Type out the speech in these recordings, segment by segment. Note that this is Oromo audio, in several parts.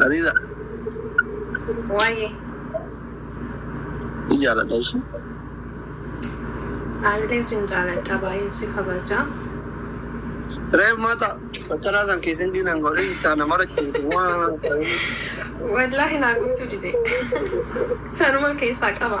Hariira Waa'ee ni jaaladha ishee. aanillee sin jaaladha baay'een si kabaja. Reef maata bakkanaa san keessan diinan godhee jirtaa nama rakkate waan ta'eef. Wallaahi naa guutuu dide. Sanuma keessaa qaba.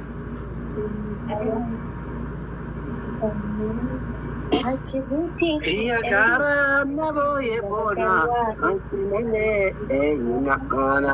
Biyya gaaraan na booye boona, wanti malee eenyu na oona.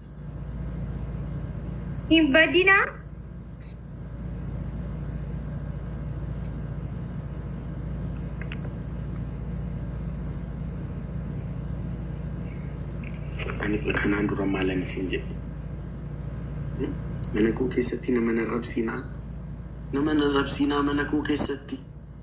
Hin badinaa. Ani kanaan dura maalan isin jedhe? Hmm? Mana koo keessatti nama hin arrabsiinaa. Nama hin arrabsiinaa mana koo keessatti.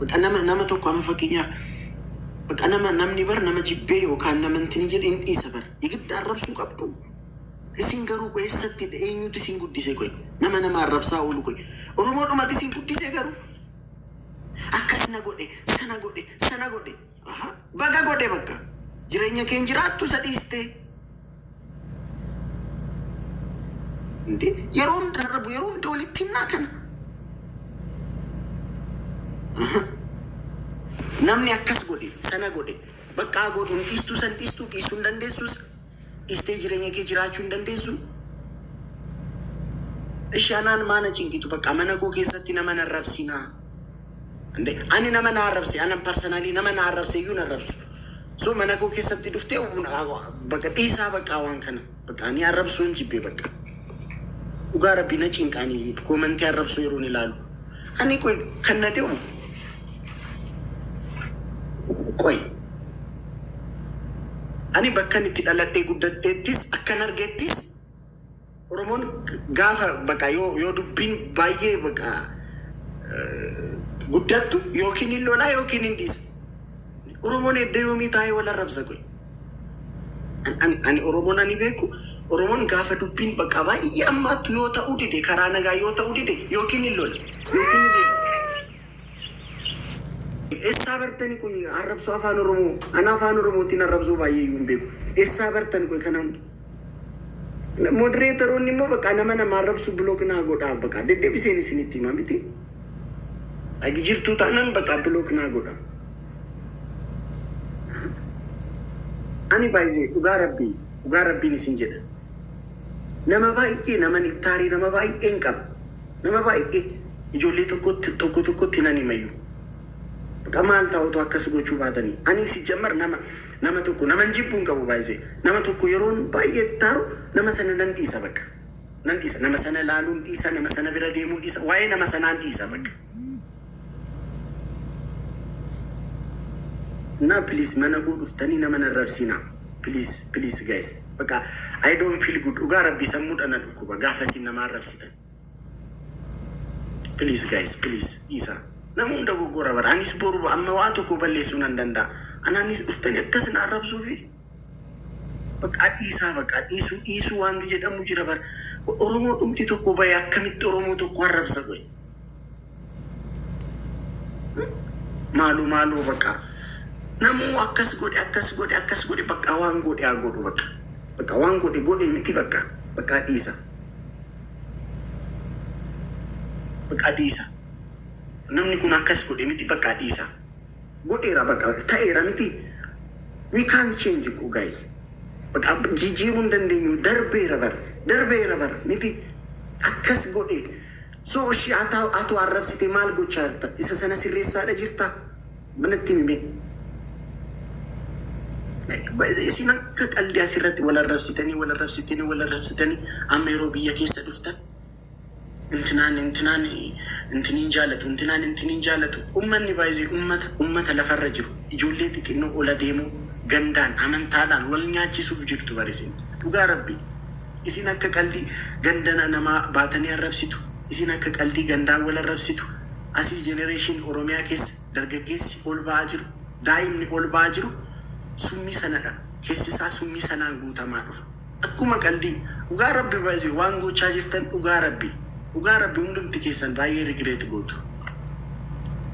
Baqa nama nama tokko amma fakkeenyaaf baqa nama namni bar nama jibbee yookaan nama intini jedhe hin dhiisa bar yegidda arrabsuu qabdu isin garuu qoy essatti dha eenyuutu isin guddise qoy nama nama arrabsaa oolu qoy oromoodhumati isin guddise garuu akkas na godhe sana godhe sana godhe Aha baga godhe bakka jireenya keen jiraattu isa dhiistee Inde yeroo hunda darbu yeroo hunda walitti himnaa kana Aha. namni akkas godhe sana godhe baqqaa godhu hin dhiistuu san dhiistuu dhiisuu hin dandeessus dhistee jireenya kee jiraachuu hin dandeessuu? Ishi anaan maa na cinqitu baqqaa mana koo keessatti nama hin arrabsinaa. Ande ani nama na arrabse anan personally nama na arrabse iyyuu hin arrabsu. So mana koo keessatti dhuftee baqa dhiisaa baqqaa waan kana baqa ani arrabsuu hin jibbee baqa. Dhugaa rabbii na cinqaanii koomantii arrabsuu yeroon ilaalu. Ani qoy kan na deemu Qoyi. Ani bakkan itti dhaladhee guddadheettis akkan argettis Oromoon gaafa baqa yoo yoo dubbiin baay'ee baqa guddattu yookiin hin lolaa yookiin hin dhiisa. Oromoon edda yoomii taa'ee wal arrabsa qoyi. An- Ani ani Oromoon ani beeku Oromoon gaafa dubbiin baqa baay'ee ammaattu yoo ta'uu dide karaa nagaa yoo ta'uu dide yookiin hin lola yookiin hin deema. Essaa bartani qoyi arrabsoo afaan oromoo ana afaan oromootiin arrabsoo baay'ee iyyuu hin beeku essaa bartan qoyi kana hunda modereetaroonni immoo bakka nama nama arrabsu bilook naa godhaa bakka deddeebiseen isinitti himaa miti agi jirtuu taanaan bakka bilook naa godhaa ani baay'ee dhugaa rabbii dhugaa rabbiin isin jedha nama baay'ee naman ittaarii nama baay'een qaba Nama baay'e ijoollee tokkotti tokko tokkotti nan himayyu. Bqa maal ta'a otoo akkas gochuu baatani. Ani sijjammar nama nama tokko naman jibbu hin qabu by the way. Nama tokko yeroon baay'ee itti aaru nama sana nan dhiisa bqa. Nan dhiisa nama sana ilaaluun dhiisa nama sana bira deemuun dhiisa waa'ee nama sanaan dhiisa bqa. Naa please mana koo dhuftanii nama hin arrabsiinaa please please guys bqa I don't feel good dhugaa rabbii sammuudha na dhukkuba gaafasiin nama arrabsitan. Please guys please dhiisa namuu dogogora bara anis boru amma waa tokko balleessuu nan danda'a anaanis dhuftani akkas na arrabsuufi baqaa dhiisaa baqaa dhiisuu dhiisuu waanti jedhamu jira bara oromoo dhumti tokko ba'e akkamitti oromoo tokko arrabsa godhe Maaloo maaloo baqa namuu akkas godhe akkas godhe akkas godhe baqa waan godhe haa godhu baqa baqa waan godhe godhe miti baqa baqa dhiisa baqa dhiisa namni kun akkas godhe miti baqa dhiisa godheera baqa ta'eera miti we can't change እኮ guys baqa jijjiiruu hin dandeenyu darbeera bar darbeera bar miti akkas godhe So ishii ataa atuu arrabsite maal gochaa jirta isa sana sirreessaadha jirta ma natti himi mee like ba- isin akka qaldi asirratti wal arrabsitanii wal arrabsitanii wal arrabsitanii amma yeroo biyya keessa dhuftan intinaan intinaan intiniin jaalatu intinaan intiniin jaalatu ummanni baay'ee ummata ummata lafarra jiru ijoollee xixinnoo ola deemoo gandaan amantaadhaan wal nyaachisuuf jirtu barisin dhugaa rabbii Isin akka qaldii gandana namaa baatanii arrabsitu isin akka qaldii gandaan wal arrabsitu asii generation oromiyaa keessa dargaggeessi ol ba'aa jiru daa'imni ol ba'aa jiru summii sanadha keessi isaa summii sanaan guutamaa dhufa akkuma qaldii dhugaa rabbi by the way waan goochaa jirtan dhugaa rabbi dhugaa rabbi hundumti keessan baay'ee regret gootu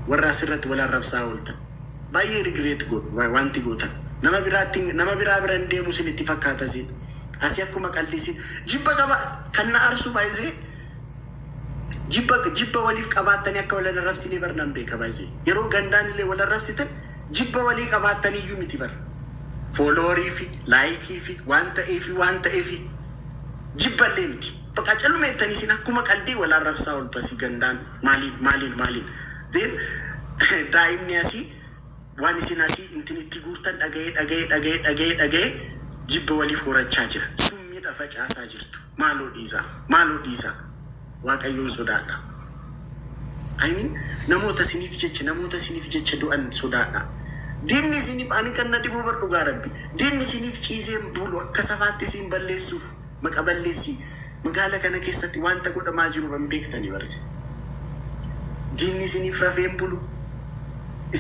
warra asirratti wal arrabsaa ooltan baay'ee regret gootu waanti gootan nama biraatti nama biraa biran deemu isinitti fakkaata siin Asi akkuma qaldii si jibba taba kan na arsu baay'ee jibba jibba waliif qabaattanii akka wal arrabsinee bar nan beeka baay'ee yeroo gandaan illee wal arrabsitan jibba walii qabaattanii iyyuu miti bar fooloorii fi laayikii fi waan ta'ee fi waan ta'ee fi jibba illee miti baqa calmeettanii isin akkuma qaldii wal arrabsaa ol basii gandaan maaliin maaliin maaliin Then, daa'imni asii Wan isin asii intin itti guurtan dhagayee dhagayee dhagayee dhagayee dhagayee jibba waliif horachaa jira summiidha facaasaa jirtu maaloo dhiisaa maaloo dhiisaa waaqayyoon sodaadha I mean namoota isiniif jecha namoota isiniif jecha du'an sodaadha diinni isiniif ani kan na dhibuu bar dhugaa rabbi diinni isiniif ciiseen buulu akka safaatti isiin balleessuuf maqa balleessi magaala kana keessati wanta godhamaa jiru irra hin beektani bar isin diinni isiniif rafee hin bulu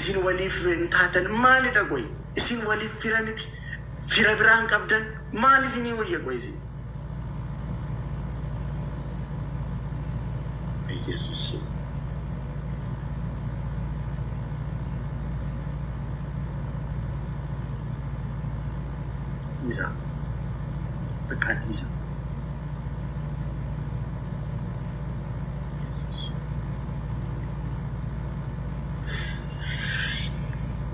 isin waliif hin taatan maalidha qoy isin waliif fira miti fira biraa hin qabdan maal isinii wayya qoy isin Yesus dhiisaa baqqaa dhiisa Yesuus.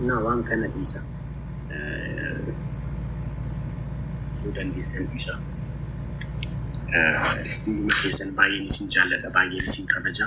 Naa waan kana dhiisa yoo dandeessan dhiisa hunduma keessan baay'een isin jaalladha baay'een isin kabaja